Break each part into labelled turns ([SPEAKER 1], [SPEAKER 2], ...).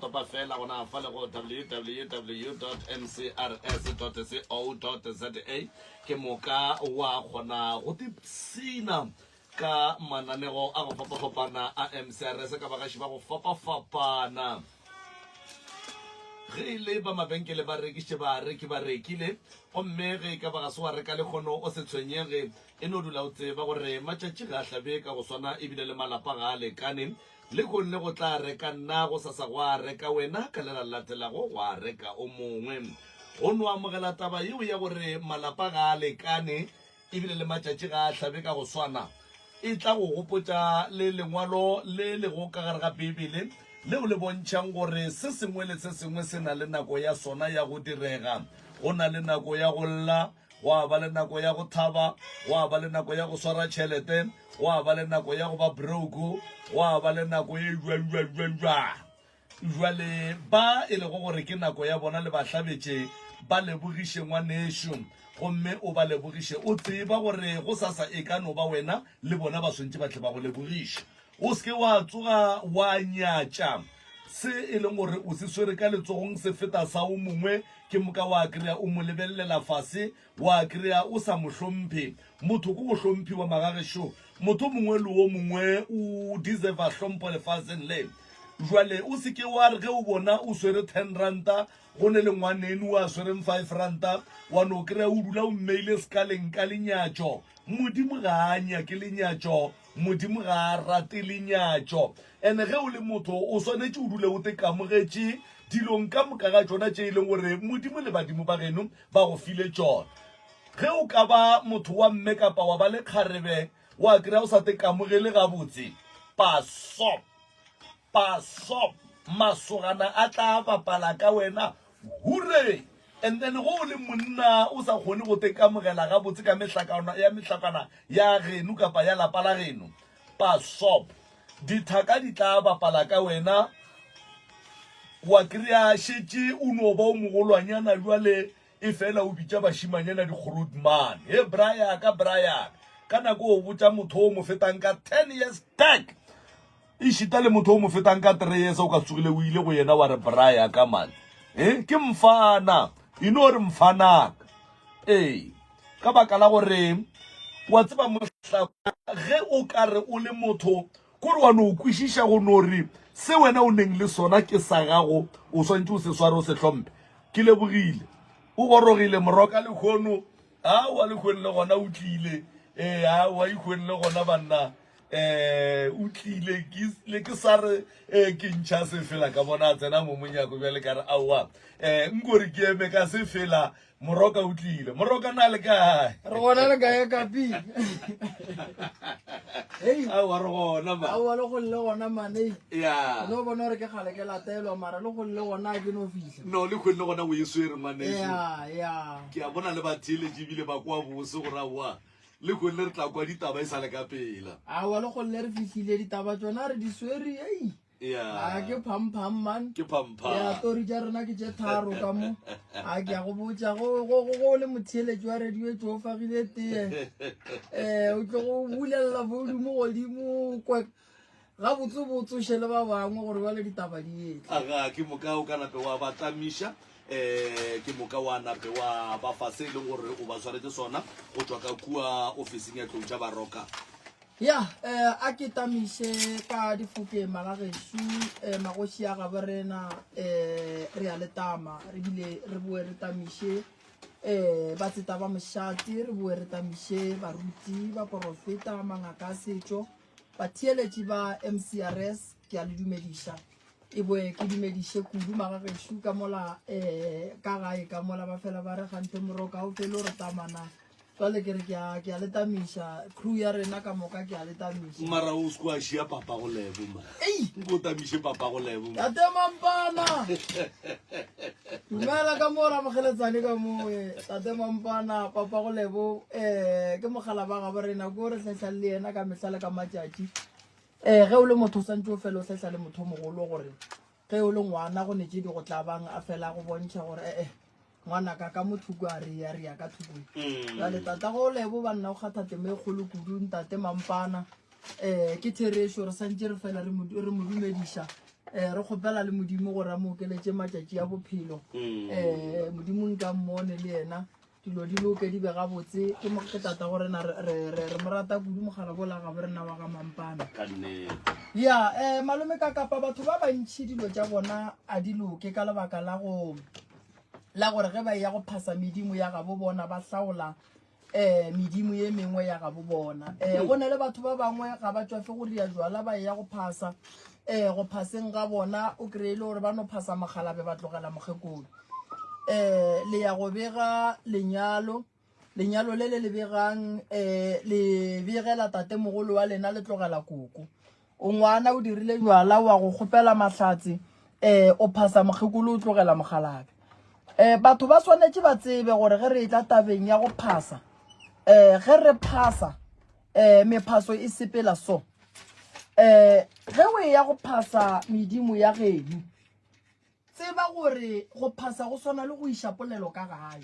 [SPEAKER 1] topa fela gona fa le go www.mcrs.co.za ke moka wa kgona go tipsina ka mananego a go fapafapana a mcrs ka bagaši ba go fapafapana ge e le ba mabenkele ba rekišitše bareki ba rekile gomme ge e ka ba ga se wa reka lekgono o se tshwenyege e no dula o tseba gore matšatši ga a hlabe ka go swana ebile le malapa ga a lekane Lehono go tla reka nna, gosasa go a reka wena, ka le la latelago go a reka o mongwe. Go no amogela taba yeo ya gore malapa ga a lekane e bile le matšatši ga a hlabe ka go swana e tla go gopotša le lengwalo le lego ka gare ga Beibele leo le bontšhang gore se sengwe le se sengwe se na le nako ya sona ya go direga. Go na le nako ya go lla, gwa ba le nako ya go thaba gwa ba le nako ya go swara tšhelete gwa ba le nako ya go ba broke gwa ba le nako e jwajwajwajwa jwale ba e lego gore ke nako ya bona le bahlabetše ba lebogiše ngwanešu gomme o ba lebogiše o tseba gore go sasa e ka no ba wena le bona ba swantše ba tle ba go lebogiše O se ke wa tsoga wa nyatša se e leng gore o se swere ka letsogong se feta sa o mongwe, ke moka wa kry-a o mo lebelelela fase, wa kry-a o sa mo hlomphe. Motho ke go hlomphiwa magagešo, motho mongwe le o mongwe o deserva hlompho lefaseng le. Jwale o se ke wa re ge o bona o swere ten ranta go ne le ngwanenu a swereng five ranta, wa no kry-a o dula o mmeile sekaleng ka lenyatšo. Modimo ga a nyake lenyatšo, Modimo ga a rate lenyatšo. And ge o le motho, o swanetše o dule o tekamogetše dilong ka moka ga tšona tše e leng gore Modimo le badimo ba geno ba go file tšona. Ge o ka ba motho wa mme kapa wa ba le kgarebe, wa kry-a o sa tekamogele gabotse, paso, paso, masogana a tla bapala ka wena, Hure! And then go o le monna o sa kgone go tekamogela gabotse ka mehlakana ya mehlakana ya geno kapa ya lapa la geno, pasop, dithaka di tla bapala ka wena. Wa kry-a šetše o no ba o mogolwanyana bjale e fela o bitša bašimanyana dikgorot man. He bra ya ka, bra ya ka. Ka nako o botša motho o mo fetang ka ten years back, Ešita le motho o mo fetang ka three years, o ka tsogile o ile go yena wa re, Bra ya ka man, he, ke mfana, e no re mfanaka. Ee, ka baka la gore wa tseba mohlakwa, ge o ka re o le motho, kore wa no kwešiša go no re se wena o neng le sona ke sa gago, o swanetše o se sware, o se hlompe. Ke lebogile. O gorogile, moroka lehono. Aowa Lehoeng le gona o tlile. Ee, aowa Ihoeng le gona banna um o tlile ke le ke sa re um ke ntšha se fela ka bona a tsena mo monyako bjale ka re aowa um eh, nkore ke eme ka se fela moroka o tlile moroka na le kae re gona le kae
[SPEAKER 2] kapi
[SPEAKER 1] hey aowa re gona ma aowa le go le gona
[SPEAKER 2] mane ya no bona
[SPEAKER 1] gore ke gale
[SPEAKER 2] ke latelwa mara le go le gona ke no fihla No le kgonne gona o e
[SPEAKER 1] swere ngwaneso. Yeah, yeah. Ke
[SPEAKER 2] a bona le ba
[SPEAKER 1] theeletše ebile ba kwa bose gore aowa le kgonne re tla kwa ditaba e sa le ka pela. Aowa le kgonne re
[SPEAKER 2] fihlile ditaba tsona re di swere ei. Yeah. A ke pham pham man. Ke pham pham. Yeah,
[SPEAKER 1] tori tša rena ke
[SPEAKER 2] tše tharo ka mo. A ke a go botša go go go go le motheeletše wa radio e tšo fagile tee. Eh, o tlo go bulelela volume godimo kwe gabotse botse o šele ba bangwe gore ba le ditaba di etle aga ke moka o ka
[SPEAKER 1] nape wa ba tlamiša um ke moka wa nape wa ba fa se e leng gore o ba tshwaretse sona go tswa ka kua officing ya tlou tša baroka ya
[SPEAKER 2] um a ke tamiše ka difokeng magagešu um eh, magoši ya gabo rena um re ya letama re bile re boe re tamiše um ba tseta ba mošate re boe re tamiše baruti ba porofeta mangaka a setšo Batheeletši ba MCRS ke a le dumediša. E boe ke dumediše kudu magagešo ka mola um ka gae ka mola ba fela ba re gante moroka o fele o re tamana jwale ke re ke a ke a le tamiša crew ya rena ka moka ke a le tamiša mara o se kwa shia
[SPEAKER 1] papa go lebo ma ei go tamiše papa go lebo ya temampana
[SPEAKER 2] Dumela ka mo ramogeletsane ka moe tate mampana papa go lebo um eh, ke mogala ba gabo rena ko re tlhahlang le yena ka mehla le ka matšatši um ge o le motho o swantse o fele o tlhahla le motho mogolo gore ge o le ngwana go netse di go tlabang a fela go bontšha gore ee eh, ngwana ka ka mothoko a re ya re ya ka thokong mm. jale tata go lebo banna o kgatha temo e kgolo kudu ntate mampana um ke therešo re santse re fela re mo dumediša um re kgopela le modimo gore a mo okeletse matšatši a bophelo um modimo nka mmone le yena dilo di loke di be gabotse ke moke tata go rena re mo rata kudu mogala bola gabo rena wa ga mampana ya um malome ka kapa batho ba bantšhi dilo tša bona a di loke ka lebaka la go la gore ge ba e ya go phasa medimo ya gabo bona ba hlaola um medimo ye mengwe ya gabo bona um go na le batho ba bangwe ga ba tswafe go ria jwala ba e ya go phasa um go phaseng ga bona o kry-e le gore ba no phasa mogalabe ba tlogela mokgekolo um le ya go bega lenyalo lenyalo le le le begang um le begela tatemogolo wa lena le tlogela koko O ngwana o dirile jwala wa go kgopela mahlatse eh o phasa mokgekolo o tlogela mogalabe eh batho ba swanetše ba tsebe gore ge re etla tabeng ya go phasa eh ge re phasa eh mephaso e sepela so eh ge o ya go phasa medimo ya geno Tseba gore go phasa go swana le go iša polelo ka gae.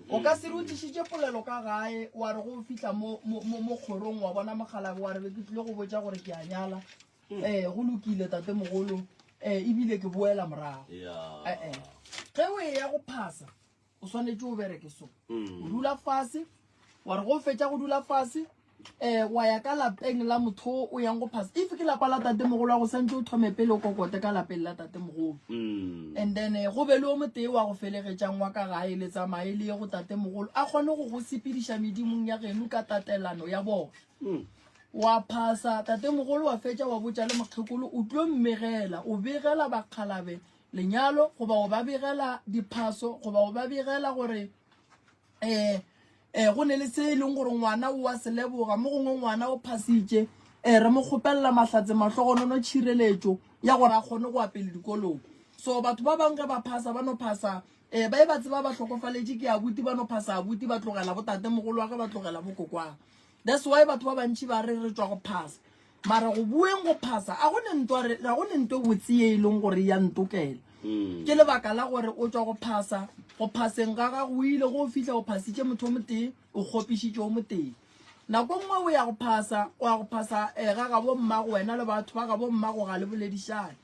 [SPEAKER 2] O ka se re o tlišitše polelo ka gae wa re go o fihla mo mo- mo- mo kgorong wa bona mogalabe wa re be ke tlile go botša gore ke a nyala um go lokile tate mogolo um ebile ke boela morago Yeah. ee ge o e ya go phasa o swanetše o bereke so mm. o dula fase wa re go fetša go dula fase um wa ya ka lapeng la motho o yang go phasa if ke lapa la tate mogolo wa go santse o thome pele o kokote ka lapeng la tate mogolo mm. and then eh, go be le o motee wa go felegetšang wa ka gae le tsamaye le ye go tate mogolo a kgone go go sepediša medimong ya geno ka tatelano ya bona mm. wa phasa tate mogolo wa fetša wa botša le mokgekolo o tlo mmegela o begela bakgalabe lenyalo goba go ba begela diphaso goba go ba begela gore um um go ne le se e leng gore ngwana o wa seleboga mo gongwe ngwana o phasitše um eh, re mo kgopelela mahlatse mahlogonono tšhireletšo ya gore a kgone go apele dikolong so batho ba bangwe ge ba phasa ba no phasa um ba e ba tseba ba hlokofaletše ke abuti ba no phasa abuti ba tlogela botate mogolo wa ge ba tlogela bokokwang that's why batho ba bantšhi ba re re tswa go phasa Mara go bueng go phasa, a go ne ntwa re, ga go ne ntwa e botse ye e leng gore ya ntokela. Ke lebaka la gore o tšwa go phasa, go phaseng ga gago o ile go fihla o phasitše motho o motee, o kgopišitše o motee. Nako e nngwe o ya go phasa, o ya go phasa eh, ga gabo mmago wena le batho ba gabo mmago ga le boledišane.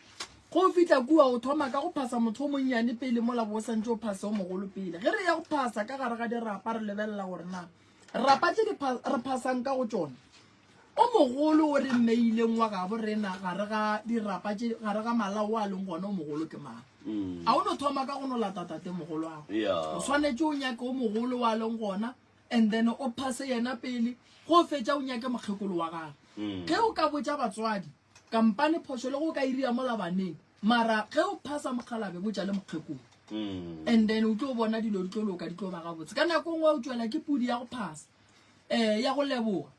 [SPEAKER 2] Ge o fihla kua o thoma ka go phasa motho o monnyane pele mola bo o santše o phase o mogolo pele. Ge re ya go phasa ka gare ga dirapa re lebelela gore na rapa tše di pha, re phasang ka go tšona O mogolo o re mmeileng wa gabo rena gare ga dirapa tše gare ga malao a leng gona o mogolo ke mang? Mm. A o no thoma ka go no lata tate mogolo ago. Yeah. O swanetše o nyake o mogolo wa leng gona and then o phase yena pele go fetša o nyake mokgekolo wa gago. Mm. Ge o ka botša batswadi kampane phošo le go ka iria mola baneng mara ge o phasa mokgalabe botša le mokgekolo. Mm. And then o tlo bona dilo di tlo loka di tlo ba gabotse. Ka nako e nngwe o tšwela ke pudi ya go phasa. eh ya go leboga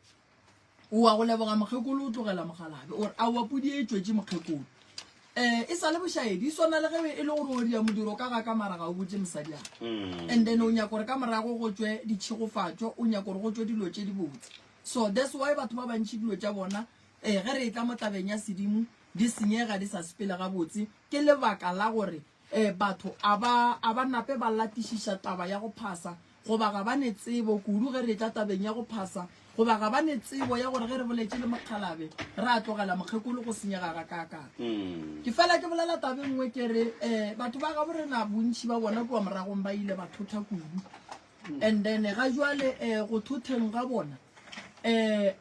[SPEAKER 2] oa go leboga mokgekolo o tlogela mogalabe ore a oa podi e tšwetše mokgekolo eh e sa le bošaedi e swana le ge e le gore o dia modiro ka ga ka mara ga o botse mosadi ane mm. and then o nyako gore ka morago go tswe ditšhegofatšo o nyako gore go tswe dilo tše di botse so that's why batho ba bantšhi dilo tša bona eh ge re e tla mo tlabeng ya sedimo di senyega di sa sepele gabotse ke lebaka la gore E, batho a ba, a ba nape ba latišiša taba ya go phasa, goba ga ba ne tsebo, kudu ge re etla tabeng ya go phasa, goba ga ba ne tsebo ya gore ge re boletše le mokgalabe, ra tlogela mokgekolo go senyega gakaakang. Ke fela ke bolela taba e nngwe ke re, e, batho ba gabo rena bontši ba bona kua moragong ba ile ba thotha kudu. And then ga jwale, e, go thotheng ga bona, e,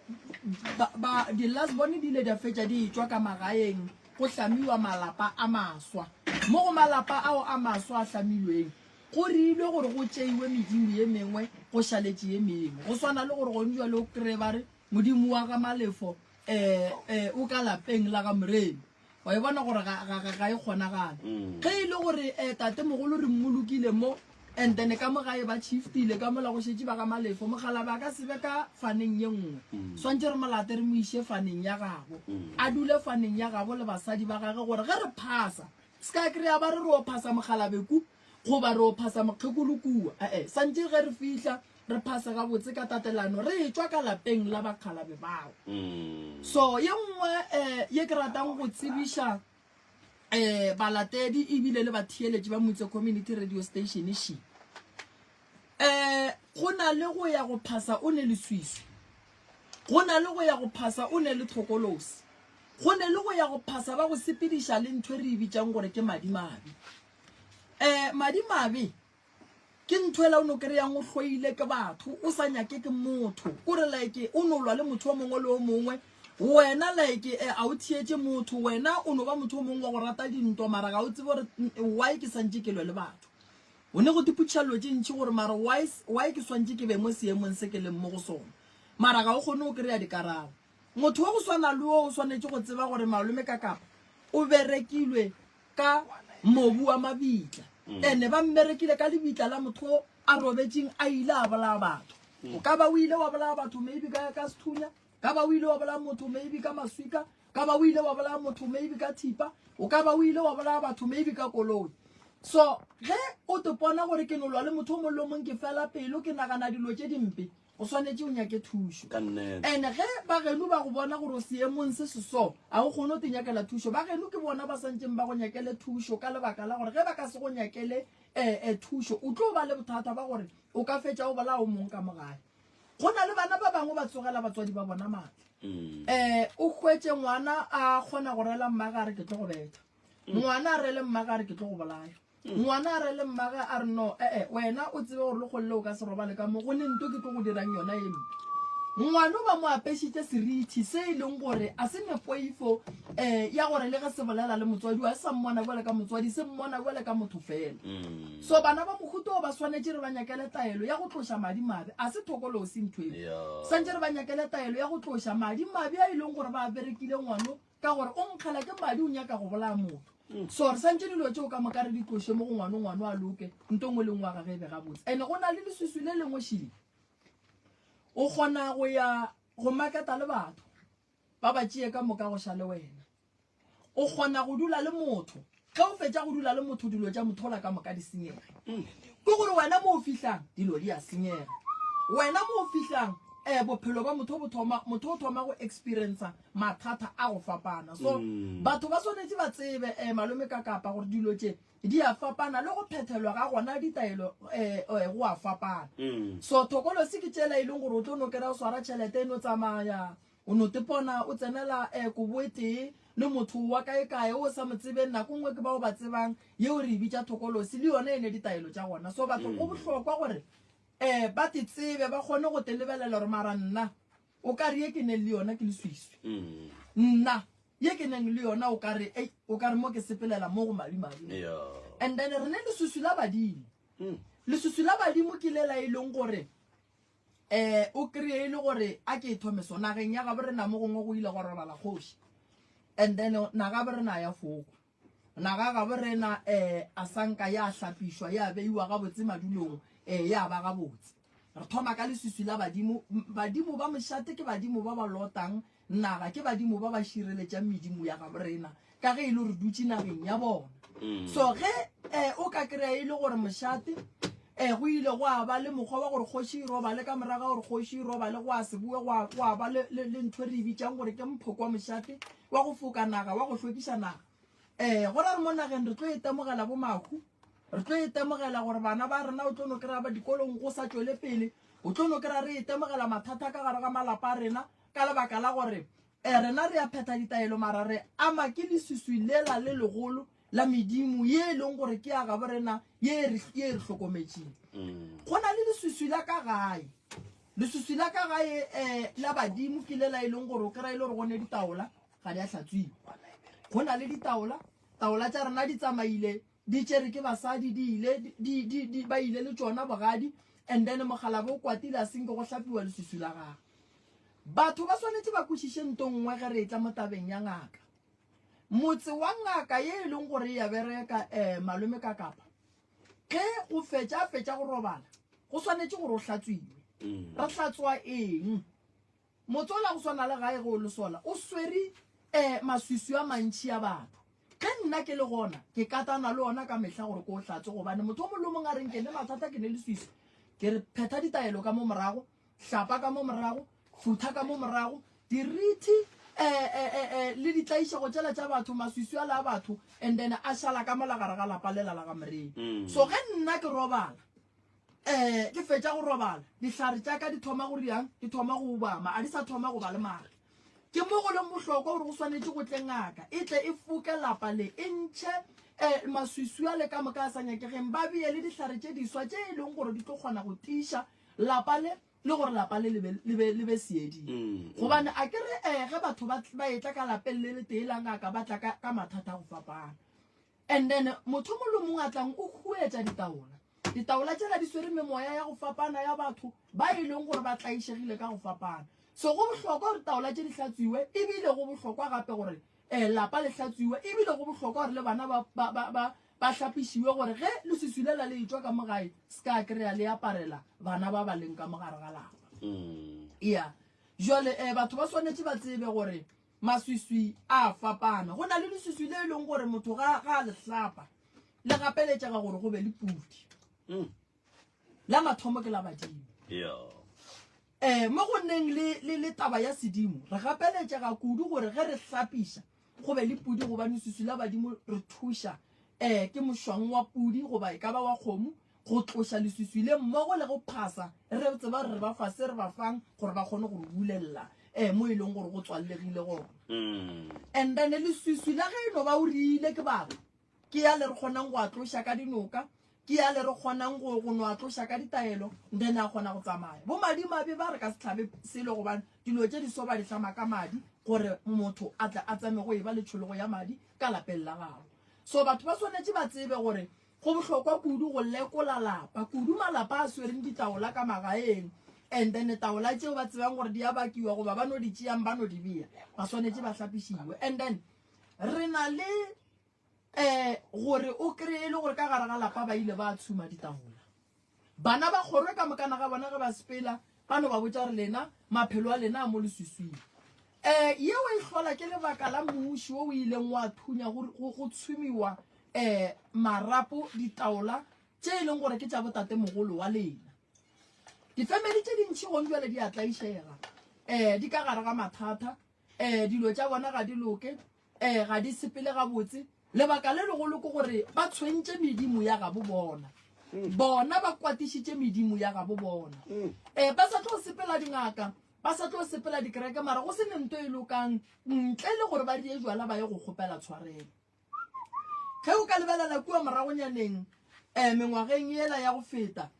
[SPEAKER 2] ba, ba, di-last born di ile di a fetša di etšwa ka magaeng, go hlamiwa malapa a maswa. Mo go malapa ao a maswa a hlamilweng, go reilwe gore go tšeiwe medimo ye mengwe go šaletše ye mengwe. Go swana le gore gone jwale o kreye ba re, Modimo wa ga Malefo um o ka lapeng la ga Moremi. Wa e bona gore ga e kgonagale. Ge e le gore um tatemogolo re mmolokile mo, And then ka mo gae ba shiftile ka mola go šetše ba ga Malefo. Mokgalabe a ka se be ka faneng ye nngwe. Swantše re mo late re mo iše faneng ya gabo. A dule faneng ya gabo le basadi ba gage gore ge re phasa, se ka kry-a ba re re o phasa mokgalabe ku goba re o phasa mokgekolo kua. Ee, swantše ge re fihla re phase gabotse ka tatelano re etšwa ka lapeng la bakgalabe bao. So ye nngwe um ye ke ratang go tsebiša um balatedi ebile le batheeletši ba motse community radio station she um go na le go ya go phasa o ne leswiswi go na le go ya go phasa o ne le tlhokolosi go ne le go ya go phasa ba go sepediša le ntho e re e bitsang gore ke madimabe um madimabe ke ntho ela o no kry-ang o hloile ke batho o sa nyake ke motho kore like o no lwa le motho o mongwe le o mongwe wena like eh, a o thietse motho wena o no ba motho o mongwe wa go rata dintwa mara ga o tsebe gore mm, eh, why ke swantse ke lwe le batho o ne go diputšhelelo tše ntšhi gore mara why s- why ke swantse ke be mo seemong se ke leng mo go sone mara ga o kgone o kry-a dikarabo motho wa go swana le o o swanetše go tseba gore malome ka kapa o berekilwe ka mobu wa mabitla mm. ene ba mmerekile ka lebitla la motho o a robetseng a ile a bolaya batho mm. o ka ba o ile wa bolaya batho maybe ka ka sethunya ka ba o ile wa bolaya motho maybe ka maswika ka ba o ile wa bolaya motho maybe ka thipa o ka ba o ile wa bolaya batho maybe ka koloi so ge o tepona gore ke nolwa le motho o mollo mong ke fela pelo ke nagana dilo tse dimpe O swanetše o nyake thušo. Ka nnete. Ene ge bagenu ba go bona gore o seemong se se so, ga o kgone go te nyakela thušo. Bagenu ke bona ba swanetšeng ba go nyakele thušo ka lebaka la gore ge ba ka se go nyakele eh, eh, thušo, o tlo ba le bothata ba gore o ka fetša o bolaya o mong ka mo gae. Go na le bana ba bangwe ba tsogela batswadi ba bona matla. Mm. Eh, o hwetše ngwana a kgona go rela mmagare ke tlo go betha. Mm. Ngwana a rele mmagare ke tlo go bolaya. Ngwana a re le mmage a re no, e-e, wena o tsebe gore lekgolole o ka se robale ka mo go ne nto ke tlo go dirang yona e mpe. Ngwano ba mo apešitše serithi se e leng gore a se nepoifo um ya gore le ge se bolela le motswadi wa se sa mmona bjale ka motswadi se mmona bjale ka motho fela. Mm. So bana ba mohuto o ba swanetše re ba nyakele taelo ya go tloša madi mabe, a se thokolosi ntho eo. Santše re ba nyakele taelo ya go tloša madi mabe a e leng gore ba a berekile ngwano ka gore o nkgela ke madi o nyaka go bolaya motho mm. so re santse dilo tseo ka moka re di tloše mo go ngwane ngwane a loke nto ngwe lengwe wa gage e be gabotse and-e go na le leswiswi le lengwe šile o kgona go ya go maketa le batho ba ba tšee ka moka go ša le wena o kgona go dula le motho Ge o fetša go dula le motho, dilo tša mothola ka moka di senyega. Ke gore wena mo o fihlang, dilo di a senyega. Wena mo o fihlang, eh, bophelo ba motho bo thoma, motho o thoma go experiencer mathata a go fapana. So, batho ba swanetše ba tsebe, eh, Malome ka Kapa, gore dilo tše di a fapana, le go phethelwa ga gona ditaelo, eh, eh, go a fapana. So, thokolosi ke tšela e leng gore o tlo no kry-a o swara tšhelete e no tsamaya, O no tepona o tsenela eh, koboetee le motho wa kaekae o sa mo tsebeng, nako nngwe ke bao ba tsebang, yeo re e bitša thokolosi, le yona e ne ditaelo tša gona. So batho go bohlokwa gore eh, ba te tsebe, ba kgone go te lebelela gore mara nna o ka re ye ke neng le yona ke leswiswi. Nna ye ke neng le yona o ka re, ei, o ka re mo ke sepelela mo go madimabe. Yeah. And then re ne leswiswi la badimo. Leswiswi la badimo ke le la e leng gore um o kry-e e le gore a ke e thome so nageng ya gabo rena mo gongwe go ile go robala kgoši and then nagabo rena ya foko naga gabo rena um a sanka ya hlapišwa ya beiwa gabotse madulong um ya ba gabotse re thoma ka leswiswi la badimo badimo ba mošate ke badimo ba ba lotang Na ga ke badimo ba ba šireletšang medimo ya gabo rena ka ge e le gore dutše nageng ya bona? Mm. So ge um o ka kry-a e le gore mošate um go ile go a ba le mokgwa wa gore kgoši e robale ka moraga gore kgoši e robale go a seboe go a ba le ntho re e bitsang gore ke mphoko wa mošate wa go foka naga wa go hlwekisa naga um go ra re mo nageng re tlo e temogela bo makhu re tlo e temogela gore bana ba rena o tlo no kry-a ba dikolong go sa tswele pele o tlo no kry-a re e temogela mathata ka gare ga malapa a rena ka lebaka la gore um rena re a phetha ditaelo mara re ama ke leswiswi lela le legolo la medimo ye e leng gore ke ya gabo rena ye e re e re hlokometseng mm. go na le leswiswi la ka gae leswiswi la ka gae um la badimo ke lela e leng gore o kry-e le gore gone ditaola ga di a tlhatswiwa go na le ditaola taola tsa rena di tsamaile di tšere ke basadi di ile di di di ba ile le tšona bogadi and then mogalabo o kwatile a senke go hlapiwa lesusu la gagwe batho ba swanetše ba kwešiše nto nngwe ge re etla mo tabeng ya ngaka motse wa ngaka ye e leng gore ya bereka um malome ka kapa ge o fetša a fetša go robala go swanetše gore o hlatswiwe mm. re hlatswa eng Motsola go swana le gae ge o le sola o swere eh maswiswi a mantši a batho. Ge nna ke le gona ke katana le ona ka mehla gore ke o hlatse gobane motho o mong le o mong a reng ke ne mathata ke ne leswiswi ke re phetha ditaelo ka mo morago, hlapa ka mo morago, futha ka mo morago, dirithi eh eh eh eh le ditlaišego tšela tša batho, maswiswi a le a batho and then a šala ka mola gare ga lapa lela la ga Morena. So ge nna ke robala um ke fetša go robala dihlare tša ka di thoma go riang di thoma go obama a di sa thoma go ba le maatla ke mo go leng bohlokwa gore go swanetše go tle ngaka e tle e foke lapa le e ntšhe um maswiswi a le ka moka a sa nyakegeng ba beye le dihlare tše diswa tše e leng gore di tlo kgona go tiiša lapa le le gore lapa le le be seeding mm, gobane mm. a ke re um ge batho ba etla ka lapeng le le tee la ngaka ba tla ka mathata a go fapana And then motho o mong le mong a tlang o huetša ditaola. Ditaola tšela di swere memoya ya go fapana ya batho ba e leng gore ba tlaišegile ka go fapana. So go bohlokwa gore taola tše di hlatswiwe ebile go bohlokwa gape gore um lapa le hlatswiwe ebile go bohlokwa gore le bana ba, ba, ba, ba, ba hlapišiwe gore ge leswiswi le la le etšwa ka mogae se ka kry-a le aparela bana ba ba leng ka mogare ga lapa. Mm. Yeah. Jwale um batho ba swanetše ba tsebe gore Maswiswi a a fapana. Go na le leswiswi le e leng gore motho ga a le hlapa le gapeletšega gore go be le pudi. Mm. La mathomo ke la badimo. Yeah. Eh mo go neng le le le taba ya sedimo re gapeletšega kudu gore ge re hlapiša go be le pudi gobane leswiswi la badimo re thuša eh ke mošwang wa pudi goba e ka ba wa kgomo go tloša leswiswi le mmogo le go phasa re tseba gore re ba fa se re ba fang gore ba kgone go re bulelela um mo e leng gore go tswallegile gona mm. and then leswiswi la ge e no ba o riile ke babo ke ya le re kgonang go a tloša ka dinoka ke ya le re kgonang go go no a tloša ka ditaelo then a kgona go tsamaya bo madimabe ba re ka setlhabe selo gobane dilo tse di so ba di tlama ka madi gore motho a tle a tsame go e ba letšhologo ya madi ka lapeng la gago so batho ba swanetše ba tsebe gore Go bohlokwa kudu go lekola lapa, kudu malapa a swereng ditaola ka magaeng, and then taola tšeo ba tsebang gore di a bakiwa goba ba no di tšeang ba no di beya, ba swanetše ba hlapišiwe. And then re na le um gore o kry-e le gore ka gare ga lapa ba ile ba tshuma ditaola. Bana ba kgorwe ka mokana ga bona ge ba sepela ba no ba botša re lena maphelo a lena a mo leswiswing. Um yeo e hlola ke lebaka la mmuši wo o ileng wa thunya go, go, go tshumiwa um marapo ditaola tše e leng gore ke tša botatemogolo wa lena. Difemeli tše dintši gong jwale di a tlaišega, um di ka gare ga mathata, um dilo tša bona ga di loke, um ga di sepele gabotse lebaka le legolo ke gore ba tshwentše medimo ya gabo bona mm. bona ba kwatišitše medimo ya gabo bona um ba sa tlo sepela dingaka ba sa tlo sepela dikereke mara go se ne nto e lokang ntle le gore ba die jala ba ye go kgopela tshwarelo ge o ka lebelela kua moragonyaneng um mengwageng ela ya go feta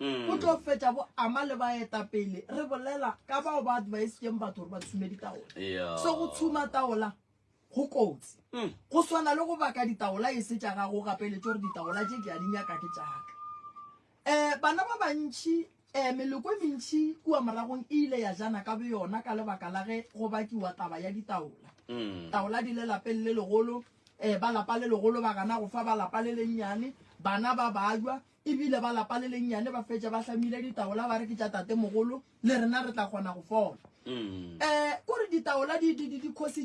[SPEAKER 2] mm. o tlo fetša bo ama le baetapele re bolela ka bao ba advisetseng batho gore ba tshume ditaola so go tshuma taola go kotsi mm. go swana le go baka ditaola e se tša gago gapeletso gore ditaola tše ke a di nyaka ke tšaka um eh, bana ba bantšhi um meloko e mentšhi kua moragong e ile ya jana ka boyona ka lebaka la ge go bakiwa taba ya ditaola mm. taola di le lapeng le legolo um ba lapa le legolo ba gana go fa ba lapa le lennyane bana ba bajwa E bile ba lapa le lennyane ba fetša ba hlamile ditaola ba re ke tša tatemogolo, le rena re tla kgona go fola. Um o re ditaola di di di di khositše